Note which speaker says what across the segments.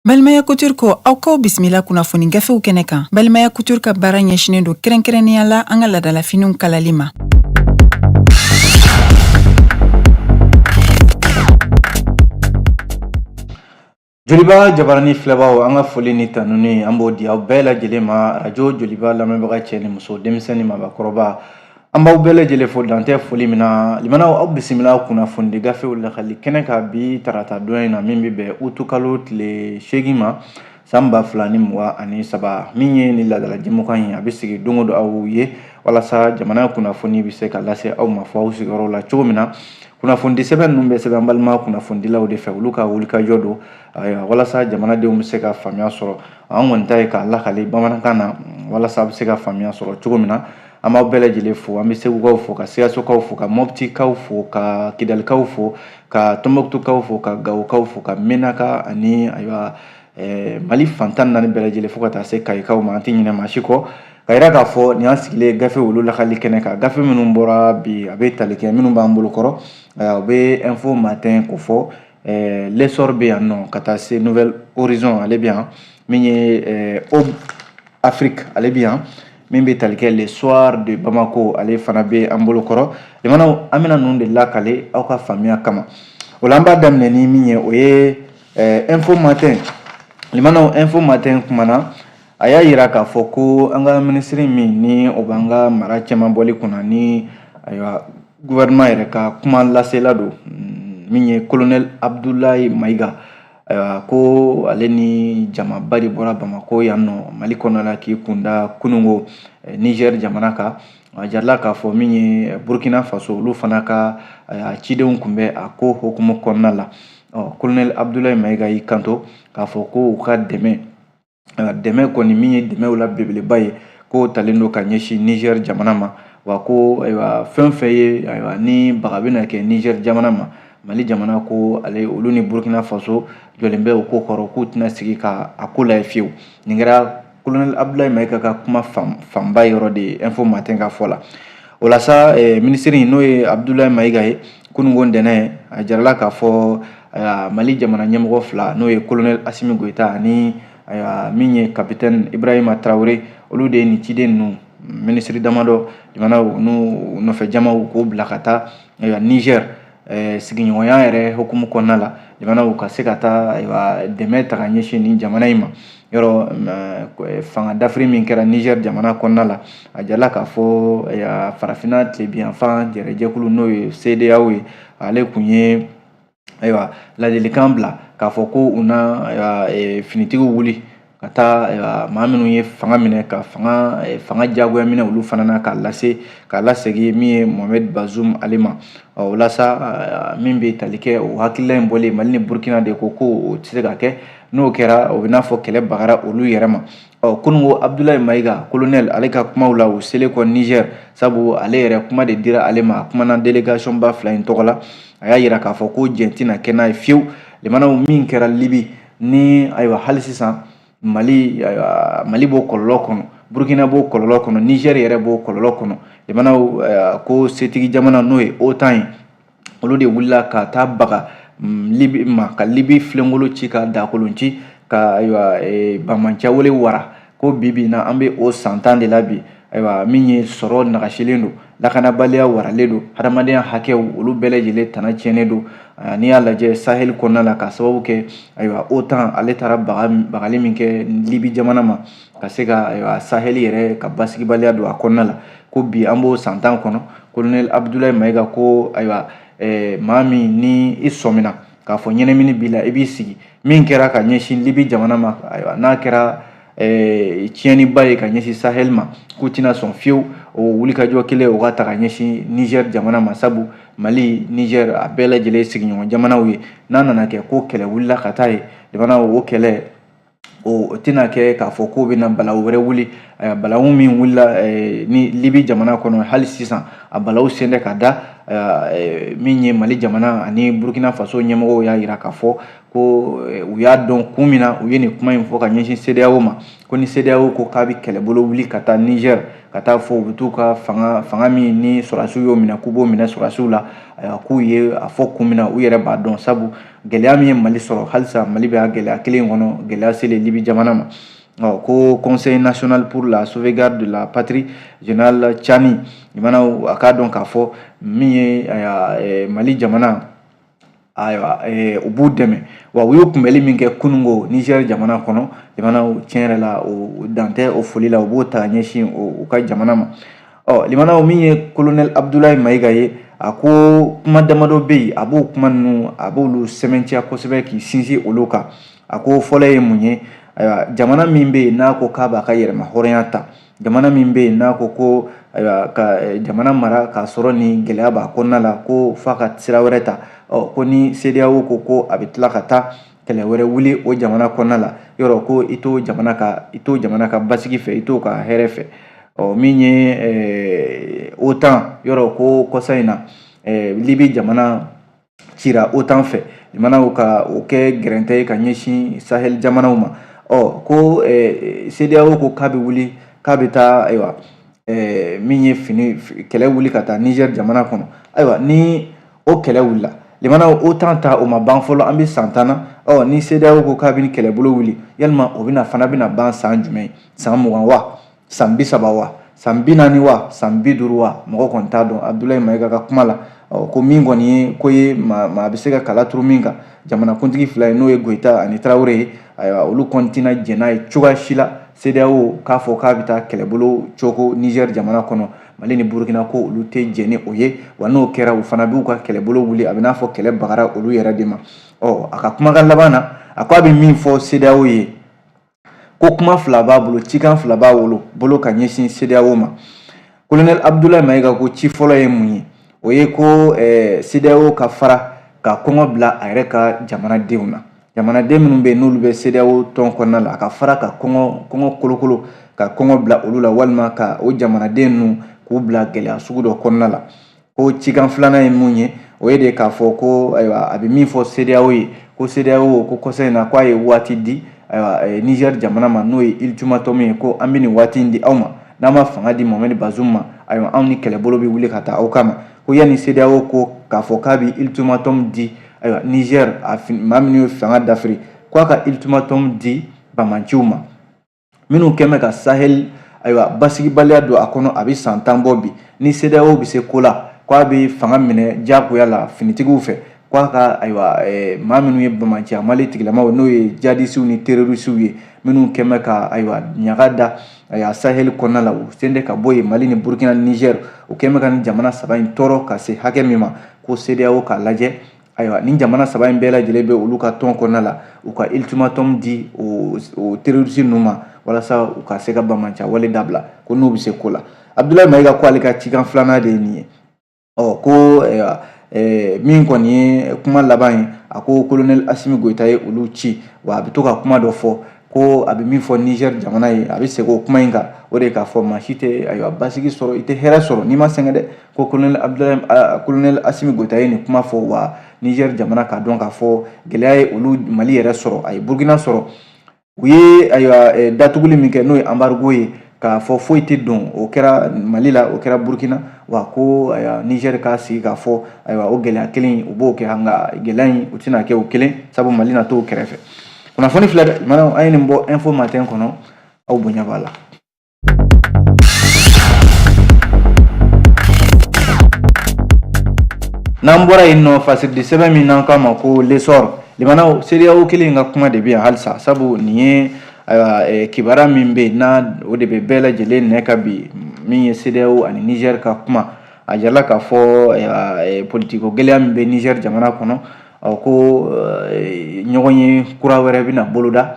Speaker 1: Balimaya Couture ko aw kaw bisimila kunnafoni gafew kɛnɛ kan Balimaya Couture ka baara ɲɛsinen don kɛrɛnkɛrɛnnenya la an ka ladalafiniw kalali ma.
Speaker 2: Joliba jabaranin filɛbagaw an ka foli ni tanuni an b'o di aw bɛɛ lajɛlen ma arajo joliba lamɛnbaga cɛ ni muso denmisɛnnin ni mɔgɔkɔrɔba an b'aw bɛɛ lajɛlen fo dantɛ foli min na limanaw aw bisimila kunnafonidi gafew lakali kɛnɛ kan bi tarata don in na min bɛ bɛn utukalo tile seegin ma san ba fila ni mugan ni saba min ye ni laadala jɛmukan ye a bɛ sigi don o don aw ye walasa jamana kunnafoni bɛ se ka lase aw ma fo aw sigiyɔrɔ la cogo min na kunnafoni sɛbɛn ninnu bɛ sɛbɛn balima kunnafonidilaw de fɛ olu ka wulikajɔ don walasa jamanadenw bɛ se ka faamuya sɔrɔ an kɔni ta ye k'a lakale bamanankan na walasa a bɛ se ka faamuya sɔrɔ cogo min na an b'aw bɛɛ lajɛlen fo an bɛ segukaw fo ka sikasokaw fo ka mɔptikaw fo ka kidalikaw fo ka tɔnbɔkutukaw fo ka gawokaw fo ka mɛnaka ani ayiwa ɛɛ mali fan tan ni naani bɛɛ lajɛlen fo ka taa se kayikaw ma an tɛ ɲinɛ maa si kɔ k'a yira k'a fɔ nin y'an sigilen gafe olu lakali kɛnɛ kan gafe minnu bɔra bi a bɛ tali kɛ minnu b'an bolo kɔrɔ u bɛ info matin kofɔ ɛɛ l'essor bɛ yan nɔ ka taa se nouvel horizon ale bɛ yan min ye ɛɛ aube afrique ale bɛ yan min bɛ tali kɛ le soir de bamako ale fana bɛ an bolo kɔrɔ limanaw an bɛna ninnu de lakale aw ka faamuya kama o la an b'a daminɛ ni min ye o ye ɛɛ info matin limanaw info matin kumana a y'a yira k'a fɔ ko an ka minisiri min ni o b'an ka mara cɛmabɔli kunna ni ayiwa gouvernement yɛrɛ ka kuma lasela don mm, min ye colonel abdulayi mayiga ayiwa ko ale ni jamaba de bɔra bamako yan nɔ mali kɔnɔ la k'i kunda kununko eh, niger jamana kan a jarala k'a fɔ min ye eh, burkina faso olu fana ka eh, cidenw kun bɛ a ko hokumu kɔnɔna la ɔ kolonɛli abudulayi mayiga y'i kanto k'a fɔ ko u ka dɛmɛ dɛmɛ kɔni min ye dɛmɛw la belebeleba ye k'o talen don ka ɲɛsin nizɛri jamana ma wa ko ayiwa fɛn fɛn ye ayiwa ni baga bɛna kɛ nizɛri jamana ma mali jamana ko ale olu ni burukina faso jɔlen bɛ o kɔkɔrɔ k'u tɛna sigi ka a ko layɛ fiyewu nin kɛra kolonɛli abudulayi mayiga ka kuma fanba yɔrɔ de ye info matin ka fɔ la o la sa eh, minisiri n'o ye abudulayi mayiga ye kununko ntɛnɛn a jarala k'a fɔ eh, mali jamana ɲɛmɔgɔ fila n'o ye kolonɛli asimi goyita ani eh, min ye kapitɛni ibrahima tarawele olu de ye nin ciden ninnu minisiri damadɔ jamana n'u nɔfɛ jamaw k'o bila ka taa niger eh, sigiɲɔgɔnya yɛrɛ hukumu kɔnɔna la jamanaw ka se ka taa ayiwa dɛmɛ ta ka ɲɛsin nin jamana in ma yɔrɔ eh, fanga dafiri min kɛra nizɛri jamana kɔnɔna la a jala k'a fɔ eh, farafinna tilebinyanfan yɛrɛ jɛkulu n'o ye sedeyaw ye ale kun ye ayiwa ladilikan bila k'a fɔ ko u na finitigiw wuli ka taa maa minnu ye fanga minɛ ka fanga fanga jagoya minɛ olu fana na k'a lase k'a lasegin min ye mohamɛd bazum ale ma o la sa min bɛ tali kɛ o hakilila in bɔlen mali ni burukina de ko ko o tɛ se ka kɛ n'o kɛra o bɛ n'a fɔ kɛlɛ bagara olu yɛrɛ ma ɔ kunungo abudulayi mayiga kolonɛli ale ka kumaw la o selen kɔ nizɛri sabu ale yɛrɛ kuma de dira ale ma a kumana delegasiɔnba fila in tɔgɔ la a y'a yira k'a fɔ ko jɛn tɛna kɛ n'a ye fiyewu lamɛnnaw min kɛra libi ni ayiwa hali sisan mali ayiwa mali b'o kɔlɔlɔ kɔnɔ burukina b'o kɔlɔlɔ kɔnɔ nizɛr yɛrɛ b'o kɔlɔlɔ kɔnɔ lamɛnnaw ko setigi jamana n'o ye otan ye olu de wulila ka taa baga mm, libi ma ka libi filenkolon ci ka dakolon ci ka ayiwa e, banbaanciya wele wara ko bi bi in na an bɛ o san tan de la bi ayiwa min ye sɔrɔ nagasilen don lakanabaliya waralen don hadamadenya hakɛw olu bɛɛ lajɛlen tana tiɲɛnen don n'i y'a lajɛ sahel kɔnɔna la k'a sababu kɛ ayiwa otan ale taara bagali min kɛ libi jamana ma ka se ka ayiwa sahel yɛrɛ ka basigibaliya don a kɔnɔna la ko bi an b'o san tan kɔnɔ kolonɛli abudulayi mayiga ko ayiwa maa min ni i sɔmina k'a fɔ ɲɛnamini b'i la i b'i sigi min kɛra ka ɲɛsin libi jamana ma ayiwa n'a kɛra eh, tiɲɛniba ye ka ɲɛsin sahel ma k'u tɛna sɔn fiyewu o wulikajɔ kelen o ka ta ka ɲɛsin niger jamana ma sabu mali niger a bɛɛ lajɛlen sigiɲɔgɔn jamanaw ye n'a nana kɛ ko kɛlɛ wulila ka taa yen jamana o kɛlɛ o tɛna kɛ k'a fɔ k'o bɛna balawu wɛrɛ wuli balawu min wulila ni libi jamana kɔnɔ hali sisan a balawu sen tɛ ka da min ye mali jamana ani burukina faso ɲɛmɔgɔw y'a yira k'a fɔ ko u y'a dɔn kun min na u ye nin kuma in fɔ ka ɲɛsin sedeyaw ma ko ni sedeyaw ko k'a bɛ kɛlɛbolo wuli ka taa nizɛri ka taa fɔ u bɛ taa u ka fanga fanga min ni sɔrɔdasiw y'o minɛ k'u b'o minɛ sɔrɔdasiw la k'u ye a fɔ kun min na u yɛrɛ b'a dɔn sabu gɛlɛya min ye mali sɔrɔ halisa mali bɛ a gɛlɛya kelen kɔnɔ gɛlɛya selen libi jamana ma ɔ ko conseil national pour la sauvegarde de la patrie général tchani jamana a k'a dɔn k'a fɔ min ye eh, mali jamana ayiwa eh, u b'u dɛmɛ wa u y'u kunbɛli min kɛ kunungo nizɛri jamana kɔnɔ lamɛnnaw tiɲɛ yɛrɛ la o dan tɛ o foli la u b'o ta ka ɲɛsin u ka jamana ma ɔ limanaw min ye kolonɛli abudulayi mayiga ye a ko kuma damadɔ bɛ yen a b'o kuma ninnu a b'olu sɛmɛntiya kosɛbɛ k'i sinsin olu kan a ko fɔlɔ ye mun ye ayiwa jamana min bɛ yen n'a ko k'a b'a ka yɛrɛma hɔrɔnya ta jamana min bɛ yen n'a ko ko ayiwa ka eh, jamana mara k'a sɔrɔ ni gɛlɛya b'a kɔnɔna la ko f'a ka sira wɛrɛ ta ɔ ko ni sedeyawo ko ko a bɛ tila ka taa kɛlɛ wɛrɛ wuli o jamana kɔnɔna la yɔrɔ ko i t'o jamana ka i t'o jamana ka basigi fɛ i t'o ka hɛrɛ fɛ ɔ min ye eh, otan yɔrɔ ko kɔsa in na eh, libi jamana cira otan fɛ jamanaw ka o kɛ gɛrɛntɛ ye ka ɲɛsin sahel jamanaw ma ɔ ko eh, sedeyawo ko k'a bɛ wuli k'a bɛ taa ayiwa min ye fini kɛlɛ wuli ka taa nizɛri jamana kɔnɔ ayiwa ni o kɛlɛ wulila limanaw OTAN ta o ma ban fɔlɔ an bɛ san tan na ɔ ni CEDEAO ko k'a bɛ nin kɛlɛbolo wuli yalima o bɛna fana bɛna ban san jumɛn san mugan wa san bi saba wa san bi naani wa san bi duuru wa mɔgɔ kɔni t'a dɔn Abudulayi Mayiga ka kuma la ɔ ko min kɔni ye ko ye maa maa bɛ se ka kala turu min kan jamanakuntigi fila ye n'o ye Goyita ani Tarawele ye ayiwa olu kɔni tɛna jɛn n'a ye cogoya si la CEDEAO k'a fɔ k'a bɛ taa kɛlɛbolo cooko Nizɛri jamana kɔnɔ mali ni burukina ko olu tɛ jɛn ni o ye wa n'o kɛra u fana b'u ka kɛlɛbolo wuli a bɛ n'a fɔ kɛlɛ bagara olu yɛrɛ de ma ɔ a ka kumakan laban na a ko a bɛ min fɔ sedeyawo ye ko kuma fila b'a bolo cikan fila b'a wolo bolo ka ɲɛsin sedeyawo ma kolonɛli abudulayi mayiga ko ci fɔlɔ ye mun ye o ye ko eh, sedeyawo ka fara ka kɔngɔ bila a yɛrɛ ka jamanadenw na jamanaden minnu bɛ yen n'olu bɛ CEDEAO tɔn kɔnɔna la a ka fara ka kɔngɔ kɔngɔ kolokolo ka kɔngɔ bila olu la walima ka o jamanaden ninnu k'u bila gɛlɛya sugu dɔ kɔnɔna la ko cikan filanan ye mun ye o ye de k'a fɔ ko ayiwa a bɛ min fɔ CEDEAO ye ko CEDEAO ko kɔsa in na k'a ye waati di ayiwa eh, Niger jamana ma n'o ye ultimatum ye ko an bɛ nin waati in di aw ma n'aw ma fanga di Mohamed Bazoum ma ayiwa anw ni kɛlɛbolo bɛ wuli ka taa aw kama ko yanni CEDEAO ko k'a fɔ k'a bɛ ultimatum di ayiwa nizɛri a maa minnu ye fanga dafiri ko a ka ultimatum di bamanciw ma minnu kɛn bɛ ka sahel ayiwa basigibaliya don a kɔnɔ a bɛ san tan bɔ bi ni CEDEAO bɛ se ko la ko a bɛ fanga minɛ diyagoya la finitigiw fɛ ko a ka ayiwa eh, maa minnu ye bamanciya wale tigilamaw n'o ye jihadisiw ni terorisiw ye minnu kɛn bɛ ka ayiwa ɲaga da ayiwa sahel kɔnɔna la u sen tɛ ka bɔ yen mali ni burkina ni nizɛri u kɛn bɛ ka nin jamana saba in tɔɔrɔ ka se hakɛ min ma ko CEDEAO k'a lajɛ ayiwa nin jamana saba in bɛɛ lajɛlen bɛ olu ka tɔn kɔnɔna la u ka ultimatum di o terroriste ninnu ma walasa u ka se ka banbaanciya wale dabila ko n'u bɛ se ko la Abdoulaye Mayiga ko ale ka cikan filanan de ye nin ye ɔ ko eh, min kɔni ye kuma laban ye a ko colonel Assimi Goïta ye olu ci wa a bɛ to ka kuma dɔ fɔ ko a bɛ min fɔ Niger jamana ye a bɛ segin o kuma in kan o de k'a fɔ maa si tɛ ayiwa basigi sɔrɔ i tɛ hɛrɛ sɔrɔ n'i ma sɛgɛn dɛ ko kolonɛli abudulayi kolonɛli asimi goyita ye nin kuma fɔ wa nizɛri jamana k'a dɔn k'a fɔ gɛlɛya ye olu mali yɛrɛ sɔrɔ a ye burukina sɔrɔ u ye ayiwa datuguli min kɛ n'o ye anbarigo ye k'a fɔ foyi tɛ don o kɛra mali la o kɛra burukina wa ko ayiwa nizɛri k'a sigi k'a fɔ ayiwa o gɛlɛya kelen u b'o kɛ nka gɛlɛya in u tɛna kɛ u kelen sabu mali na t'u kɛrɛfɛ kunnafoni filɛ lamɛnnaw an ye nin bɔ info matin kɔnɔ aw bonya b'a la n'an bɔra yen nɔ fasirili sɛbɛn min n'an k'a ma ko lesɔr lamɛnnaw sedeyaw kelen ka kuma de bɛ yan halisa sabu nin ye ayiwa eh, kibaruya min bɛ yen n'a o de bɛ bɛɛ lajɛlen nɛn kan bi min ye sedeyaw ani nizɛri ka kuma a jirala k'a fɔ eh, politiko gɛlɛya min bɛ nizɛri jamana kɔnɔ ko eh, ɲɔgɔnye kura wɛrɛ bɛna boloda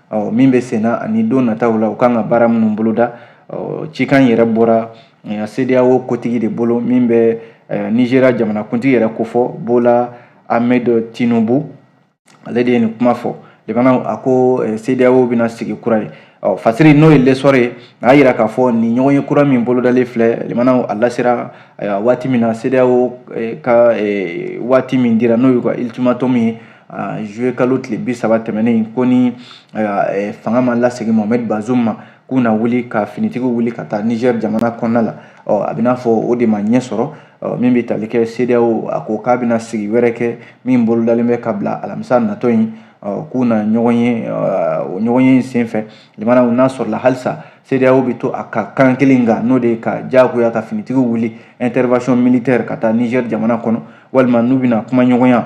Speaker 2: ɔ min bɛ senna ani don nataw la u kan ka baara minnu boloda ɔ cikan yɛrɛ bɔra CEDEAO kotigi de bolo min bɛ Nizeriya jamanakuntigi yɛrɛ kofɔ Bola Ahmed Tinubu ale de ye nin kuma fɔ lamɛnnaw a ko CEDEAO bɛna sigi kura ye ɔ fasiri n'o ye lesɔrɔ ye a y'a yira k'a fɔ nin ɲɔgɔnye kura min bolodalen filɛ lamɛnnaw a lasera waati min na CEDEAO ka waati min dira n'o y'u ka ultimatum ye zuye kalo tile bi saba tɛmɛnen ko ni fanga ma lasegin mohamɛd bazum ma k'u na wuli ka finitigiw wuli ka taa nizɛri jamana kɔnɔna la ɔ a bɛn'a fɔ o de ma ɲɛ sɔrɔ min bɛ tali kɛ sedeyaw a ko k'a bɛna sigi wɛrɛ kɛ min bolodalen bɛ ka bila alamisa natɔ in k'u na ɲɔgɔn ye o ɲɔgɔnye in senfɛ lamɛnnaw n'a sɔrɔla halisa sedeyaw bɛ to a ka kan kelen kan n'o de ye ka diyagoya ka finitigiw wuli intervention militaire ka taa nizɛri jamana kɔnɔ walima n'u bɛna kumaɲɔgɔnya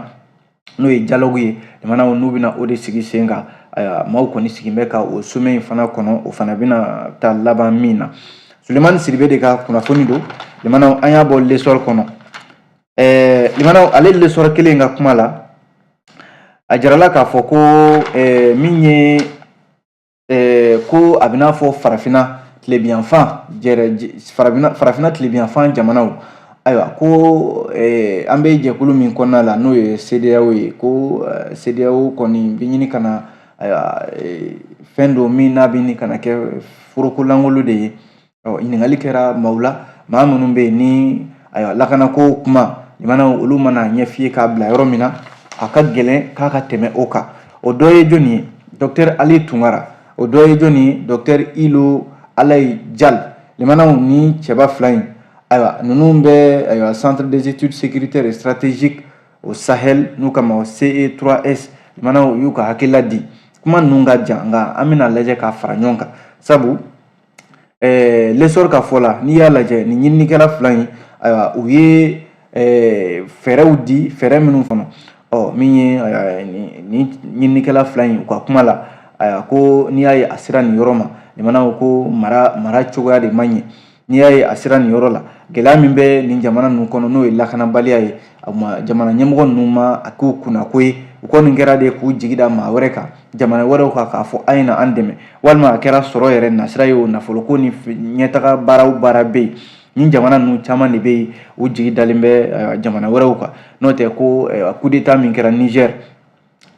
Speaker 2: n'o ye jalogu ye lamɛnnaw n'u bɛna o de sigi sen kan ayiwa maaw kɔni sigilen bɛ ka o somɛ in fana kɔnɔ o fana bɛna taa laban min na sulemani sidibe de ka kunnafoni don lamɛnnaw an y'a bɔ lesɔri kɔnɔ ɛɛ lamɛnnaw ale lesɔri kelen ka kuma la a jarala k'a fɔ ko ɛɛ min ye ko a bɛn'a fɔ farafinna tilebinyanfan farafinna farafinna tilebinyanfan jamanaw ayiwa ko an bɛ jɛkulu min kɔnɔna la n'o ye CEDEAO ye ko CEDEAO kɔni bɛ ɲini ka na ayiwa fɛn don min n'a bɛ ɲini ka na kɛ foroko lankolon de ye ɔ ɲininkali kɛra maaw la maa minnu bɛ yen ni ayiwa lakanako kuma limanaw olu mana ɲɛf'i ye k'a bila yɔrɔ min na a ka gɛlɛn k'a ka tɛmɛ o kan o dɔ ye jɔni ye dɔktɛri ali tunkara o dɔ ye jɔni ye dɔktɛri ilo alayi jal limanaw ni cɛba fila in ayiwa ninnu bɛ ayiwa centre des études sécuritaires et stratégiques au sahel n'u k'a ma ce3s limanaw y'u ka hakilila di kuma ninnu ka jan nka an bɛna lajɛ k'a fara ɲɔgɔn kan sabu ɛɛ lesɔri ka fɔ la n'i y'a lajɛ nin ɲininikɛla fila in ayiwa u ye ɛɛ fɛɛrɛw di fɛɛrɛ minnu fana ɔ min ye nin ɲininikɛla fila in u ka kuma la ayiwa ko n'i y'a ye a sera nin yɔrɔ ma limanaw ko ko mara mara cogoya de man ɲi n'i y'a ye a sera nin yɔrɔ la gɛlɛya min bɛ nin jamana ninnu kɔnɔ n'o ye lakanabaliya ye a ma jamana ɲɛmɔgɔ ninnu ma a k'u kunnako ye u kɔni kɛra de k'u jigi da maa wɛrɛ kan jamana wɛrɛw kan k'a fɔ a ye na an dɛmɛ walima a kɛra sɔrɔ yɛrɛ nasira ye o nafoloko ni ɲɛtaga baaraw baara bɛ yen ni jamana ninnu caman de bɛ yen u jigi dalen bɛ jamana wɛrɛw kan n'o tɛ ko kudeta min kɛra nizɛr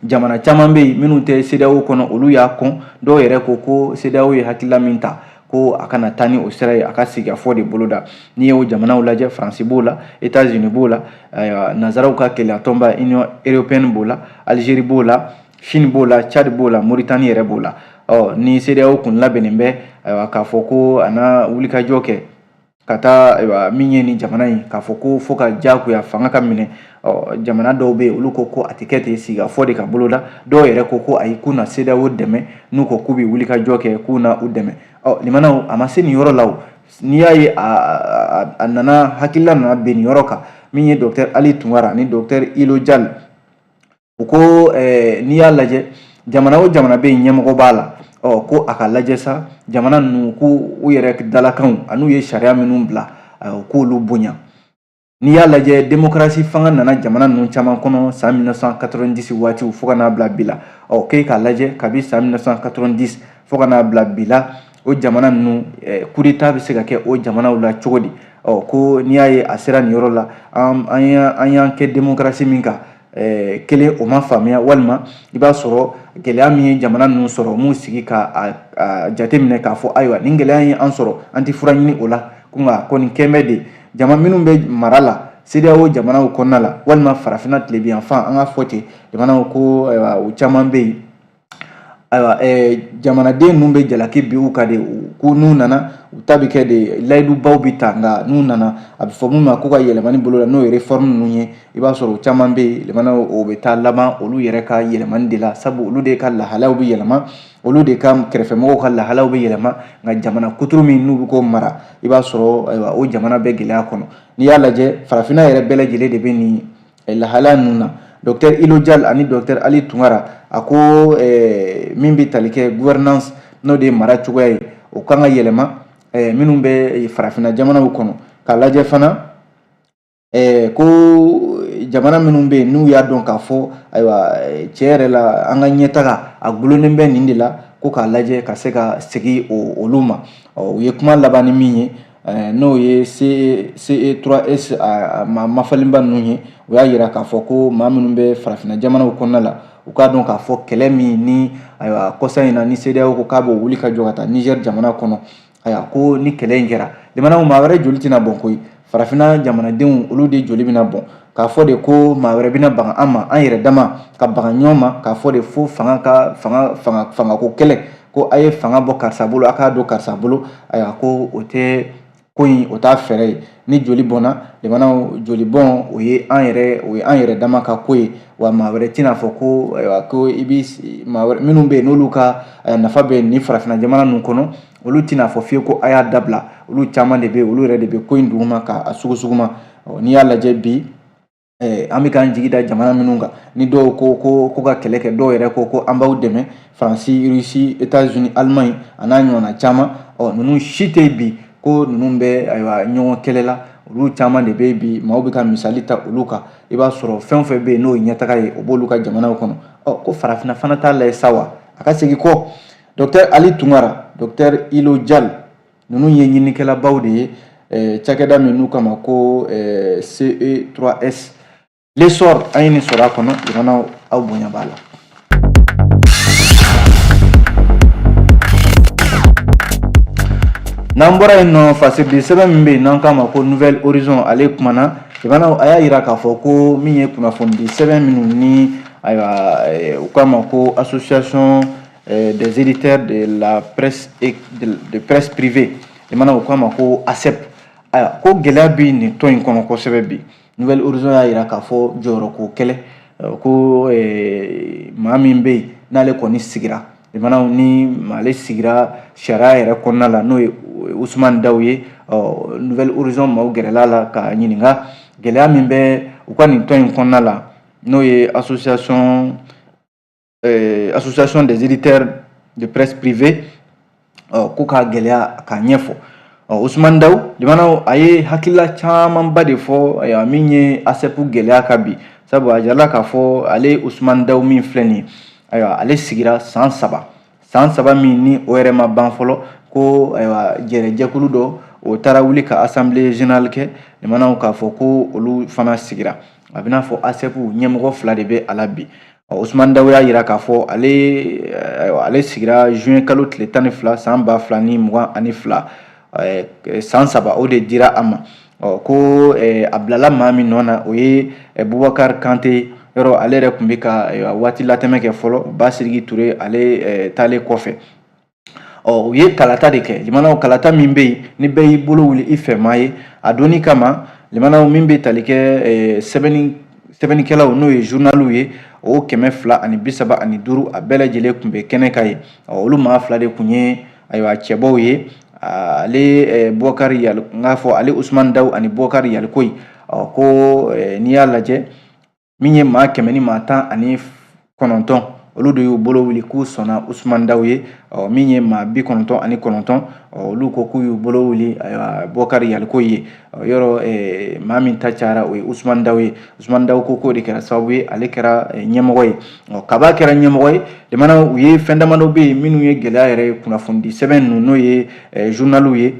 Speaker 2: jamana caman bɛ yen minnu tɛ CEDEAO kɔnɔ olu y'a kɔn dɔw yɛrɛ ko ko CEDEAO ye hakilila min ta ko a kana taa ni o sira ye a ka sigikafɔ de boloda n'i y'o jamanaw lajɛ faransi b'o la etats unis b'o la nanzaraw ka kelenyatɔnba union européenne b'o la algérie b'o la Chine b'o la Tchad b'o la Mauritanie yɛrɛ b'o la ɔ ni CEDEAO kun labɛnnen bɛ ayiwa k'a fɔ ko a na wulikajɔ kɛ ka taa ayiwa min ye nin jamana in k'a fɔ ko fo ka diyagoya fanga ka minɛ ɔ jamana dɔw bɛ yen olu ko ko a tɛ kɛ ten sigikafɔ de ka boloda dɔw yɛrɛ ko ko ayi k'u na CEDEAO dɛmɛ n'u ko k'u bɛ wulikajɔ kɛ k'u na u dɛmɛ ɔ limanaw a ma se nin yɔrɔ la o n'i y'a ye a nana hakilila nana bɛn nin yɔrɔ kan min ye docteur Ali Tunkara ani docteur Ilo Jal u ko n'i y'a lajɛ jamana o jamana bɛ yen ɲɛmɔgɔ b'a la ɔ ko a ka lajɛ sa jamana ninnu ko u yɛrɛ dalakanw an'u ye sariya minnu bila u k'olu bonya n'i y'a lajɛ demokarasi fanga nana jamana ninnu caman kɔnɔ san 1990 waatiw fo ka n'a bila bi la ɔ k'e k'a lajɛ kabi san 1990 fo ka n'a bila bi la o jamana ninnu kudeta bɛ se ka kɛ o jamanaw la cogo di ɔ ko n'i y'a ye a sera nin yɔrɔ la an y'an kɛ demokarasi min kan kelen o ma faamuya walima i b'a sɔrɔ gɛlɛya min ye jamana ninnu sɔrɔ m'u sigi ka jateminɛ k'a fɔ ayiwa nin gɛlɛya ye an sɔrɔ an tɛ fura ɲini o la ko nka kɔni kɛnbɛ de jama minnu bɛ mara la CEDEAO jamanaw kɔnɔna la walima farafinna tilebinyanfan an ka fɔ ten jamanaw ko u caman bɛ yen Ayiwa jamanaden ninnu bɛ jalaki bi u ka de ko n'u nana u ta bɛ kɛ de layidubaw bɛ ta nka n'u nana a bɛ fɔ min ma ko ka yɛlɛmani boloda n'o ye réforme ninnu ye i b'a sɔrɔ u caman bɛ yen o bɛ taa laban olu yɛrɛ ka yɛlɛmani de la sabu olu de ka lahalaw bɛ yɛlɛma olu de ka kɛrɛfɛmɔgɔw ka lahalaw bɛ yɛlɛma nka jamana kuturu min n'u bɛ k'o mara i b'a sɔrɔ o jamana bɛ gɛlɛya kɔnɔ n'i y'a lajɛ farafinna yɛrɛ bɛɛ lajɛlen de bɛ nin lahala ninnu na docteur ilo jal ani docteur ali tunkara a ko eh, min bɛ tali kɛ gouvernance n'o de ye mara cogoya ye o kan ka yɛlɛma eh, minnu bɛ farafinna jamanaw kɔnɔ k'a lajɛ fana eh, ko jamana minnu bɛ yen n'u y'a dɔn k'a fɔ ayiwa tiɲɛ yɛrɛ la an ka ɲɛtaga a gulonnen bɛ nin de la ko k'a lajɛ ka se ka segin olu ma ɔ u ye kuma laban ni min ye Eh, n'o ye CE3S e, a ma maa falenba ninnu ye u y'a yira k'a fɔ ko maa minnu bɛ farafinna jamanaw kɔnɔna la u k'a dɔn k'a fɔ kɛlɛ min ni ayiwa kɔsa in na ni CEDEAO ko k'a b'o wuli ka jɔ ka taa Niger jamana kɔnɔ ayiwa ko ni kɛlɛ in kɛra lamɛnnaw maa wɛrɛ joli tɛna bɔn koyi farafinna jamanadenw olu de joli bɛna bɔn k'a fɔ de ko maa wɛrɛ bɛna bagan an ma an yɛrɛ dama ka bagan ɲɔgɔn ma k'a fɔ de fo fanga ka fanga fanga fangako kɛlɛ ko a ye fanga bɔ karisa bolo a k'a don karisa bolo ayiwa ko o tɛ ko in o t'a fɛɛrɛ ye ni joli bɔnna jamanaw joli bɔn o ye an yɛrɛ o ye an yɛrɛ dama ka ko ye wa maa wɛrɛ tɛna fɔ ko ayiwa ko i bi maa wɛrɛ minnu bɛ yen n'olu ka nafa bɛ nin farafinna jamana ninnu kɔnɔ olu tɛna fɔ fiye ko a y'a dabila olu caman de bɛ yen olu yɛrɛ de bɛ ko in duguma k'a sugusuguma n'i y'a lajɛ bi Eh, an bɛ k'an jigi da jamana minnu kan ni dɔw ko ko ko ka kɛlɛ kɛ dɔw yɛrɛ ko ko an b'aw dɛmɛ faransi rusi etats unis alimaɲi a n'a ɲɔgɔnna caman ɔ ninnu si tɛ bi ko ninnu bɛ ayiwa ɲɔgɔn kɛlɛ la olu caman de bɛ bi maaw bɛ ka misali ta olu kan i b'a sɔrɔ fɛn o fɛn bɛ yen n'o ye ɲɛtaga ye o b'olu ka jamanaw kɔnɔ ɔ ko farafinna fana t'a lajɛ sa wa a ka segin kɔ docteur ali tunkara docteur ilo jal ninnu ye ɲininikɛlabaw de ye eh, cakɛda min n'u k'a ma ko eh, ce3s l'essor an ye nin sɔrɔ a kɔnɔ lamɛnnaw aw bonya b'a la n'an bɔra yen nɔ fasiridi sɛbɛn min bɛ yen n'an k'a ma ko nouvel horizon ale kumana lamɛnnaw a y'a yira k'a fɔ ko min ye kunnafonidi sɛbɛn minnu ni ayiwa eh, u k'a ma ko association euh, des éditeurs de la presse et de, de presse privée lamɛnnaw u k'a ma ko asep ayiwa ko gɛlɛya bɛ nin tɔn in kɔnɔ kosɛbɛ bi nouvel horizon y'a yira k'a fɔ jɔyɔrɔko kɛlɛ euh, ko eh, maa min bɛ yen n'ale kɔni sigira lamɛnnaw ni maale sigira sariya yɛrɛ kɔnɔna la n'o ye usumani daw ye ɔ nouvel horizon maaw gɛrɛla a la k'a ɲininka gɛlɛya min bɛ u ka nin tɔn in kɔnɔna la n'o ye association eh, association des éditeurs de presse privée oh, ko ka gɛlɛya k'a ɲɛfɔ oh, Ousmane Daw jamana a ye hakilila camanba de fɔ eh, min ye ASEP gɛlɛya ka bi sabu a jirala k'a fɔ ale Ousmane Daw min filɛ nin ye ayiwa ale sigira san saba san saba min ni o yɛrɛ ma ban fɔlɔ ko ayiwa jɛrɛ jɛkulu dɔ o taara wuli ka assemblée générale kɛ jamanaw k'a fɔ ko olu fana sigira a b'i n'a fɔ ASEP ɲɛmɔgɔ fila de bɛ a la bi Osumani Dawu y'a yira k'a fɔ ale ayiwa ale sigira juin kalo tile tan ni fila san ba fila ni mugan ani fila san saba o de dira a ma ɔ ko a bilala maa min nɔ na o ye Bubakari Kante yɔrɔ ale yɛrɛ tun bɛ ka waati latɛmɛ kɛ fɔlɔ Basidiki Ture ale taalen kɔfɛ ɔ u ye kalata de kɛ limanaw kalata min bɛ yen ni bɛɛ y'i bolo wuli i fɛmaa ye a dɔnni kama limanaw min bɛ tali kɛ sɛbɛnni sɛbɛnnikɛlaw n'o ye journaliw ye o kɛmɛ fila ani bi saba ani duuru a bɛɛ lajɛlen tun bɛ kɛnɛ kan yen olu maa fila de tun ye ayiwa cɛbɔw ye ale bubakari yali n k'a fɔ ale usumani dawu ani bubakari yalikoyi ɔ ko n'i y'a lajɛ min ye maa kɛmɛ ni maa tan ani kɔnɔntɔn olu de y'u bolo wuli k'u sɔnna usumani daw ye min ye maa bi kɔnɔntɔn ani kɔnɔntɔn olu ko k'u y'u bolo wuli bubakari yalikoyi ye yɔrɔ maa min ta cayara o ye usumani daw ye usumani daw ko k'o de kɛra sababu ye ale kɛra ɲɛmɔgɔ ye kab'a kɛra ɲɛmɔgɔ ye jamana u ye fɛn damadɔ bɛ yen minnu ye gɛlɛya yɛrɛ ye kunnafonidi sɛbɛn ninnu n'o ye journaliw ye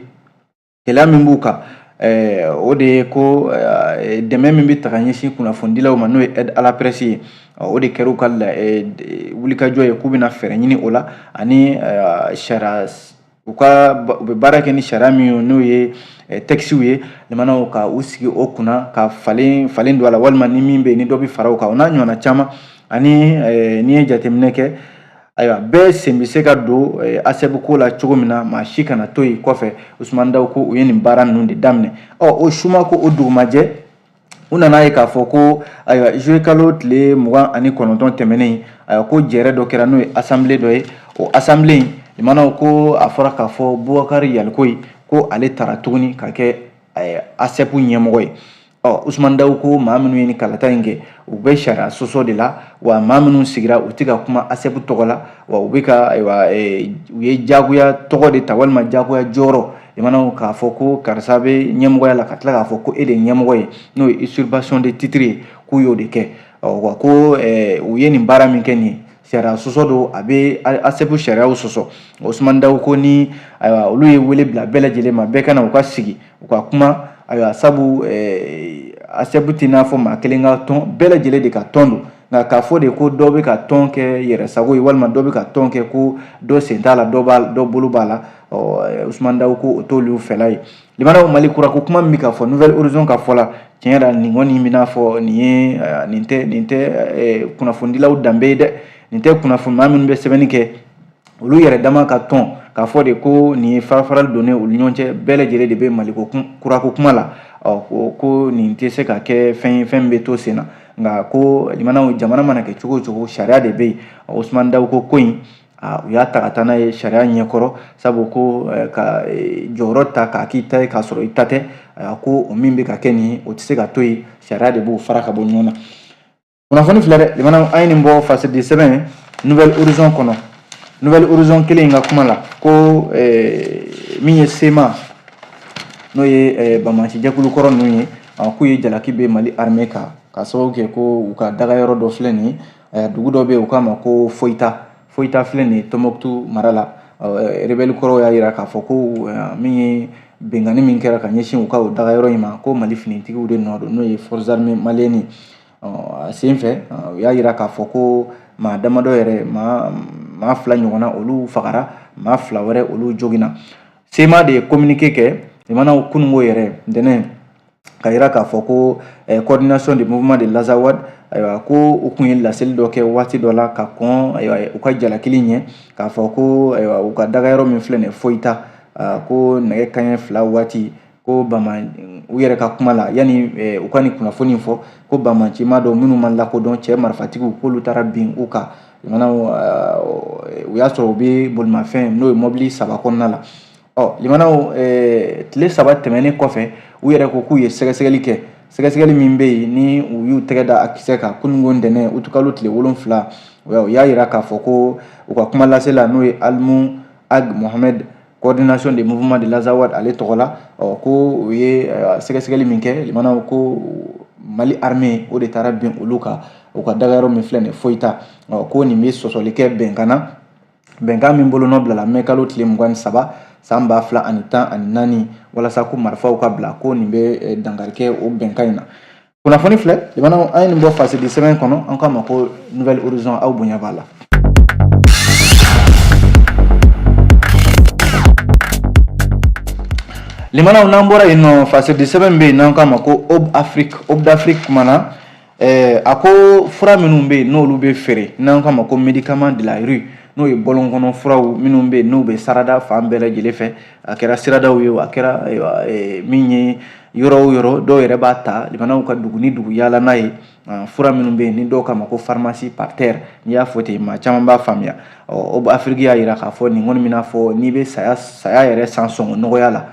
Speaker 2: gɛlɛya min b'u kan eh, o de ye ko eh, dɛmɛ min bɛ ta ka ɲɛsin kunnafonidilaw ma n'o ye aide à la presse ye o de kɛra u ka eh, wulikajɔ ye k'u bɛna fɛɛrɛ ɲini o la ani sariya u ka u bɛ baara kɛ ni sariya min ye n'o ye tɛkisiw ye jamanaw ka u sigi o kunna ka falen falen don a la walima ni min bɛ yen ni dɔ bɛ fara o kan o n'a ɲɔgɔnna caman ani n'i ye jateminɛ kɛ ayiwa bɛɛ sen bɛ se ka don eh, asɛpu ko la cogo min na maa si kana to yen kɔfɛ usumani daw ko u ye nin baara ninnu de daminɛ ɔ o suma ko o dugumajɛ u nan'a ye k'a fɔ ko ayiwa juillet kalo tile mugan ani kɔnɔntɔn tɛmɛnen ayiwa ko jɛrɛ dɔ kɛra n'o ye asanbile dɔ ye o asanbile in limanaw ko a fɔra k'a fɔ bubakari yalikoyi ko ale tara tuguni ka kɛ eh, asɛpu ɲɛmɔgɔ ye ɔ usumani dawu ko maa minnu ye nin kalata in kɛ u bɛ sariya sɔsɔ de la wa maa minnu sigira u tɛ ka kuma asɛpu tɔgɔ la wa u bɛ ka ayiwa e, u ye jagoya tɔgɔ de ta walima jagoya jɔyɔrɔ i mana k'a fɔ ko karisa bɛ ɲɛmɔgɔya la ka tila k'a fɔ ko e de ye ɲɛmɔgɔ ye n'o ye usurpation de titre ye k'u y'o de kɛ ɔ wa ko e, u ye nin baara min kɛ nin ye sariya sɔsɔ don a bɛ asɛpu sariyaw sɔsɔ osumani dawu ko ni ayiwa olu ye wele bila bɛɛ lajɛlen ma bɛɛ ka na u ka sigi u ka kuma ayiwa sabu eh, asɛpu t'i n'a fɔ maa kelen ka tɔn bɛɛ lajɛlen de ka tɔn don nka k'a fɔ de ko dɔ bɛ ka tɔn kɛ yɛrɛ sago ye walima dɔ bɛ ka tɔn kɛ ko dɔ sen t'a la dɔ b'a dɔ bolo b'a la usumani dawu ko o t'olu fɛla ye Limanaw Mali kura ko kuma min bɛ ka fɔ Nouvel Horizon ka fɔ la tiɲɛ yɛrɛ la nin kɔni bɛ n'a fɔ nin ye nin tɛ nin tɛ kunnafonidilaw danbe ye dɛ nin tɛ kunnafoni maa minnu bɛ sɛbɛnni kɛ olu yɛrɛ dama ka tɔn k'a fɔ de ko nin ye farafarali donnen olu ɲɔgɔn cɛ bɛɛ lajɛlen de bɛ Mali ko kura ko kuma la ɔ ko ko nin tɛ se ka kɛ fɛn ye fɛn min bɛ to sen na nka ko limanaw jamana mana kɛ cogo o cogo sariya de bɛ yen Ousmane Dawu ko ko in aa u y'a ta ka taa n'a ye sariya ɲɛkɔrɔ sabu ko eh, ka eh, jɔyɔrɔ ta k'a k'i ta ye k'a sɔrɔ i ta tɛ a ko o min bɛ ka kɛ nin ye o tɛ se ka to yen sariya de b'o fara ka bɔ ɲɔgɔn na kunnafoni filɛ dɛ limanaw an ye nin bɔ fasedi sɛbɛn Nouvel Horizon kɔnɔ Nouvel Horizon kelen in ka kuma la ko eh, min ye sema n'o ye banbaanci jɛkulu kɔrɔ ninnu ye k'u ye jalaki bin mali armée kan k'a sababu kɛ ko u ka dagayɔrɔ dɔ filɛ nin ye dugu dɔ bɛ yen u k'a ma ko foyita foyita filɛ nin ye tɔnbɔkutu mara la rebɛli kɔrɔw y'a jira k'a fɔ ko min ye binkanni min kɛra ka ɲɛsin u ka o dagayɔrɔ in ma ko mali finitigiw de nɔ don n'o ye forces armées maliennes a sen fɛ u y'a jira k'a fɔ ko maa damadɔ yɛrɛ maa maa fila ɲɔgɔnna olu fagara maa fila wɛrɛ olu joginna sema de ye communiqué kɛ limanaw kununko yɛrɛ ntɛnɛn ka yira k'a fɔ ko eh, coordination du mouvement de l'Azawad ayiwa ko u tun ye laseli dɔ kɛ waati dɔ la ka kɔn ayiwa u ka jalakili ɲɛ k'a fɔ ko ayiwa u ka dagayɔrɔ min filɛ nin ye Foyita ah, ko nɛgɛ kanɲɛ fila waati ko bama u yɛrɛ ka kuma la yanni eh, u ka nin kunnafoni fɔ ko banbaanci maa dɔ minnu ma lakodɔn cɛ marifatigiw k'olu taara bin u kan limanaw ah, u y'a sɔrɔ u bɛ bolimafɛn n'o ye mɔbili saba kɔnɔna la Ɔ limanaw tile saba tɛmɛnen kɔfɛ u yɛrɛ ko k'u ye sɛgɛsɛgɛli kɛ sɛgɛsɛgɛli min bɛ yen ni u y'u tɛgɛ da a kisɛ kan kununko ntɛnɛn utikalo tile wolonwula u y'a jira k'a fɔ ko u ka kuma lasela n'o ye Almou Ag Mohamed coordination des mouvements de l'Azawad ale tɔgɔ la ɔ ko u ye sɛgɛsɛgɛli min kɛ limanaw ko Mali armée o de taara bin olu kan u ka dagayɔrɔ min filɛ nin ye Foyita ɔ ko nin bɛ sɔsɔli kɛ bɛnkan na bɛnkan min bolonɔ bilala mɛ kalo tile mugan ni saba san ba fila ani tan ani naani walasa ko marifaw ka bila ko nin bɛ eh, dankari kɛ o bɛnkan in na kunnafoni filɛ limanaw an ye nin bɔ fasedi sɛbɛn kɔnɔ an k'a ma ko Nouvel Horizon aw bonya b'a la limanaw n'an bɔra yen nɔ fasedi sɛbɛn bɛ yen n'an k'a ma ko Aube Afrique Aube d'Afrique kumana Ɛɛ a ko fura minnu bɛ yen n'olu bɛ feere n'an k'a ma ko médicament de la rue n'o ye bɔlɔnkɔnɔ furaw minnu bɛ yen n'u bɛ sarada fan bɛɛ lajɛlen fɛ a kɛra siradaw ye a kɛra min ye yɔrɔ o yɔrɔ dɔw yɛrɛ b'a ta jamanaw ka dugu ni dugu yaala n'a ye fura minnu bɛ yen ni dɔw k'a ma ko pharmacie par terre n'i y'a fɔ ten maa caman b'a faamuya ɔ afiriki y'a jira k'a fɔ nin kɔni b'i n'a fɔ n'i bɛ saya saya yɛrɛ san sɔngɔ nɔgɔya la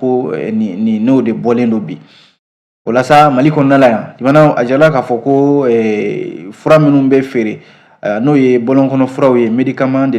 Speaker 2: ko nin n'o de bɔlen don bi o la sa mali kɔnɔna la yan jamana a jirala k'a fɔ ko fura minnu bɛ feere n'o ye bɔlɔnkɔnɔ furaw ye médicament de la